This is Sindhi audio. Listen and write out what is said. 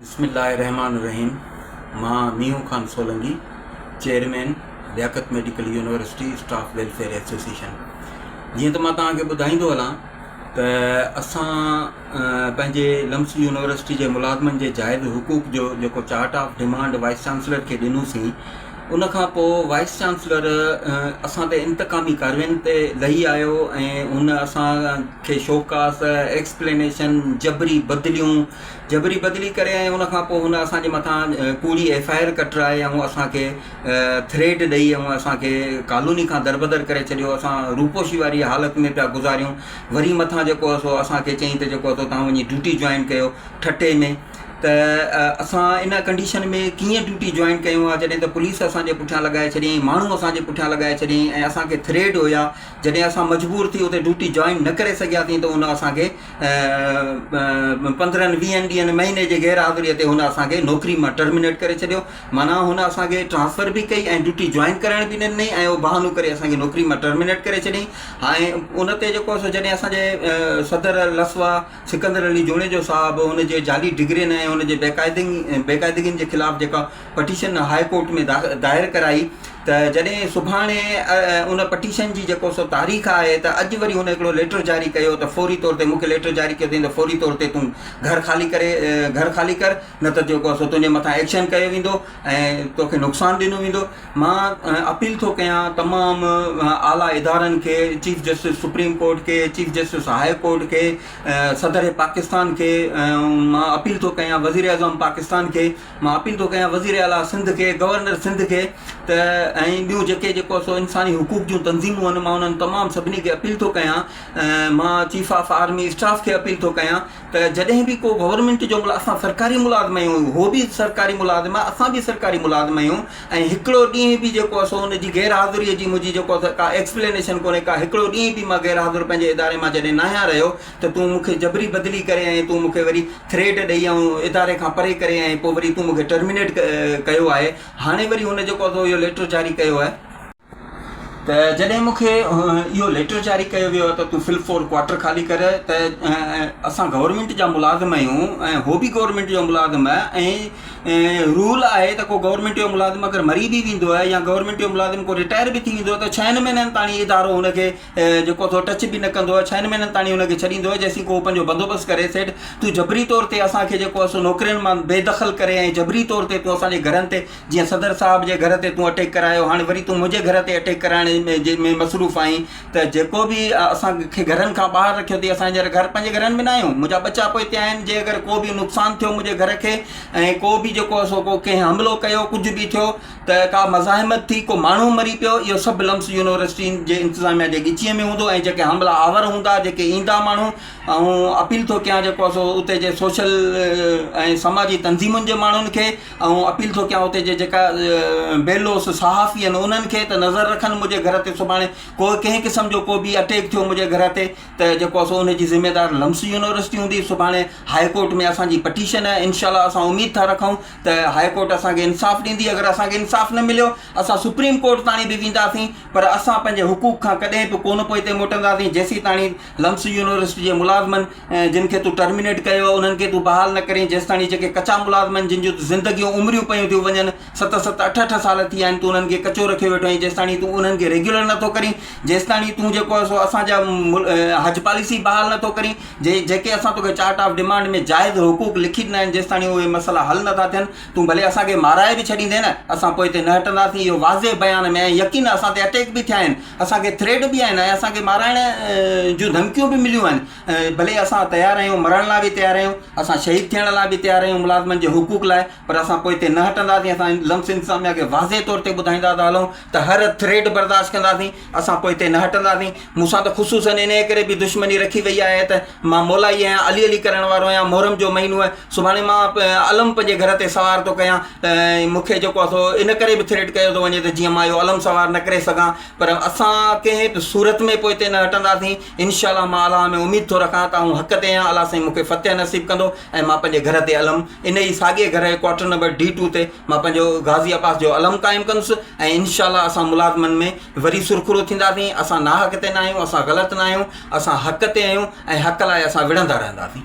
بسم الله الرحمٰن الرحيم مان Meenhon Khan Solangi chairman Liaquat medical university staff welfare association جيئن ته مان توهان کي ٻڌائيندو هلان ته اسان پنهنجي لمس يونيورسٽي جي ملازمن جي جائز حقوق جو جيڪو chart of demand vice chancellor کي ڏنوسين ان کان پوء وائيس چانسلر اسان تي انتقامي ڪارواين تي لهي آيو ۽ هن اسان کي شوڪاس ايڪسپلينيشن جبري بدليون جبري بدلي ڪري ۽ ان کان پوء هن اسان جي مٿان ڪوڙي ايف آء آر ڪٽرائي ۽ اسان کي ٿريٽ ڏئي ۽ اسان کي ڪالوني کان دربدر ڪري ڇڏيو اسان روپوشي واري حالت ۾ پيا گذاريون وري مٿان جيڪو سو اسان کي چئين ته جيڪو سو توهان وڃي ڊيوٽي جوائن ڪيو ٺٽي ۾ ته اسان ان ڪنڊيشن ۾ ڪيئن ڊيوٽي جوائن ڪيون ها جڏهن ته پوليس اسان جي پٺيان لڳائي ڇڏيائين ماڻهو اسان جي پٺيان لڳائي ڇڏيائين ۽ اسان کي ٿريٽ هيا جڏهن اسان مجبور ٿي اتي ڊيوٽي جوائن نه ڪري سگهياسين ته ان اسان کي پندرهن ويهن ڏينهن مهيني جي غير حاضريء تي هن اسان کي نوڪري مان ٽرمنيٽ ڪري ڇڏيو معنيٰ هن اسان کي ٽرانسفر به ڪئي ۽ ڊيوٽي جوائن ڪرائڻ به ڏني ۽ اهو بهانو ڪري اسان کي نوڪري مان ٽرمنيٽ ڪري ڇڏيائين ۽ ان تي جيڪو سو جڏهن اسانجي صدر لسوا سڪندر علي جوڻيجو صاحب هن جي جعلي ڊگرين ۽ هن جي بيقاعدين بيقاعدگين جي خلاف جيڪا پٽيشن هاء ڪورٽ ۾ دائر ڪرائي ته جڏهن سڀاڻي ان پٽيشن جي جيڪو سو تاريخ آهي ته اڄ وري هن هڪڙو ليٽر جاري ڪيو ته فوري طور تي مون کي ليٽر جاري ڪيو اٿئين ته فوري طور تي تون گهر خالي ڪري گهر خالي ڪر نه ته جيڪو سو تنهنجي مٿان ايڪشن ڪيو ويندو ۽ توکي نقصان ڏنو ويندو مان اپيل ٿو ڪيان تمام اعليٰ ادارن کي چيف جسٽس سپريم ڪورٽ کي چيف جسٽس هاء ڪورٽ کي صدر پاڪستان کي مان اپيل ٿو ڪيان وزير اعظم پاڪستان کي مان اپيل ٿو ڪيان وزير اعليٰ سنڌ کي، گورنر سنڌ کي ته ۽ ٻيون جيڪي جيڪو سو انساني حقوق جون تنظيمون آهن مان انهن تمام سڀني کي اپيل ٿو ڪيان مان چيف آف آرمي اسٽاف کي اپيل ٿو ڪيان ته جڏهن به ڪو گورنمينٽ جو ملازم اسان سرڪاري ملازم آهيون هو به سرڪاري ملازم آهي اسان به سرڪاري ملازم آهيون ۽ هڪڙو ڏينهن به جيڪو آهي سو ان جي غير حاضري جي منهنجي جيڪو آهي سو ڪا ايڪسپلينيشن ڪونهي ڪا هڪڙو ڏينهن به مان غير حاضر پنهنجي اداري مان جڏهن ناهيان رهيو ته تون مون کي جبري بدلي ڪري ۽ تون مون کي وري ٿريٽ ڏئي آئون اداري کان پري ڪري ۽ پوء وري تون مون کي ٽرمينيٽ ڪيو آهي هاڻي وري هن جيڪو اٿو اهو ليٽر جاري ڪيو آهي ته جڏهن مون کي اهو ليٽر جاري ڪيو ويو آهي ته تون فل فور ڪوارٽر خالي ڪر ته اسان گورنمينٽ جا ملازم آهيون ۽ اهو به گورنمينٽ جو ملازم آهي ۽ رول آهي ته ڪو گورنمينٽ جو ملازم اگر مري به ويندو آهي يا گورنمينٽ جو ملازم ڪو رٽائر به ٿي ويندو آهي ته ڇهن مهينن تاڻي ادارو هن کي جيڪو اٿو ٽچ به نه ڪندو آهي ڇهن مهينن تاڻي ان کي ڇڏيندو آهي جيسين ڪو پنهنجو بندوبست ڪري سيٺ تون جبري طور تي اسان کي جيڪو اسو نوڪرين مان بي دخل ڪري ۽ جبري طور تي تون اسان جي گهرن تي جيئن صدر صاحب جي گهر تي تون اٽيڪ ڪرايو هاڻي وري تون منهنجي گهر تي اٽيڪ ڪرائڻ جي ۾ مصروف آهين ته جيڪو به اسان کي گهرن کان ٻاهر رکيو اٿئي اسان هينئر گهر پنهنجي گهرن ۾ نه آهيون منهنجا ٻچا پوء هتي آهن جي اگر ڪو به نقصان ٿيو منهنجي گهر کي ۽ ڪو به جيڪو اسو ڪو ڪنهن حملو ڪيو ڪجهه به ٿيو ته ڪا مزاحمت ٿي، ڪو ماڻهو مري پيو، اهو سڀ لمس يونيورسٽين جي انتظاميا جي ڳچيء ۾ هوندو ۽ جيڪي حاملا آور هوندا، جيڪي ايندا ماڻهو، آئون اپيل ٿو ڪيان جيڪو آهي سو اتي جي سوشل ۽ سماجي تنظيمن جي ماڻهن کي، آئون اپيل ٿو ڪيان اتي جي جيڪا بي لوث صحافي آهن انهن کي ته نظر رکن منهنجي گهر تي سڀاڻي ڪو ڪنهن قسم جو ڪو به اٽيڪ ٿيو منهنجي گهر تي ته جيڪو آهي سو ان جي ذميدار لمس يونيورسٽي هوندي، سڀاڻي هاء ڪورٽ ۾ اسان جي پٽيشن آهي، انشاء الله اسان اميد ٿا رکون. ته هاء ڪورٽ اسان کي انصاف ڏيندي، اگر اسان کي انصاف نه مليو اسان سپريم ڪورٽ تاڻي به وينداسين پر اسان پنهنجي حقوق کان ڪڏهن به ڪونه پوئتي موٽنداسين جيسين تاڻي لمس يونيورسٽي جي ملازمن جن کي تون ٽرمينيٽ ڪيو آهي انهن کي تون بحال نه ڪرين جيستاڻي جيڪي ڪچا ملازم آهن جن جون زندگيون عمريون پيون ٿيون وڃن ست ست اٺ اٺ سال ٿي ويا آهن تون انهن کي ڪچو رکيو ويٺو آهين جيستاڻي تون انهن کي ريگيولر نٿو ڪرين جيستاڻي تون جيڪو آهي سو اسان جا حج پاليسي بحال نٿو ڪرين جيڪي اسان توکي چارٽ آف ڊمانڊ ۾ جائز حقوق لکي ڏنا آهن جيستاڻي اهي مسئلا حل نه ٿا ٿين تون ڀلي اسان کي مارائي به ڇڏيندين اسان پوء تي نه هٽنداسين اهو واضح بيان ۾ آهي يقينن اسان تي اٽيڪ به ٿيا آهن اسان کي ٿريٽ به آهن ۽ اسان کي مارائڻ جون ڌمڪيون به مليون آهن ڀلي اسان تيار آهيون مرڻ لاء به تيار آهيون اسان شهيد ٿيڻ لاء به تيار آهيون ملازمن جي حقوق لاء پر اسان پوء تي نه هٽنداسين اسان لمس انتظاميا کي واضح طور تي ٻڌائيندا ٿا هلون ته هر ٿريٽ برداشت ڪنداسين اسان پوئتي نه هٽنداسين. مون سان ته خصوصاً انهيء ڪري به دشمني رکي ويئي آهي ته مان مولائي آهيان، علي علي ڪرڻ وارو آهيان. محرم جو مهينو آهي، سڀاڻي مان علم پنهنجي گهر تي سوار ٿو ڪيان ۽ مون کي جيڪو سو ان ڪري به ٿريٽ ڪيو ٿو وڃي ته جيئن مان اهو علم سوار نه ڪري سگهان. پر اسان ڪنهن به صورت ۾ پوئتي نه هٽنداسين. انشاء الله مان الله ۾ اميد ٿو رکان ته آئون حق تي آهيان، الله سائين مون کي فتح نصيب ڪندو ۽ مان پنهنجي گهر تي علم انهيء ساڳئي گهر ڪوارٽر نمبر ڊي ٽو تي مان پنهنجو غازي عباس جو علم قائم ڪندس ۽ انشاء الله اسان ملازمن ۾ وري سرخرو ٿينداسين، اسان ناحق تي نه آهيون، اسان غلط نه آهيون، اسان حق تي آهيون ۽ حق لاء اسان وڙهندا رهنداسين.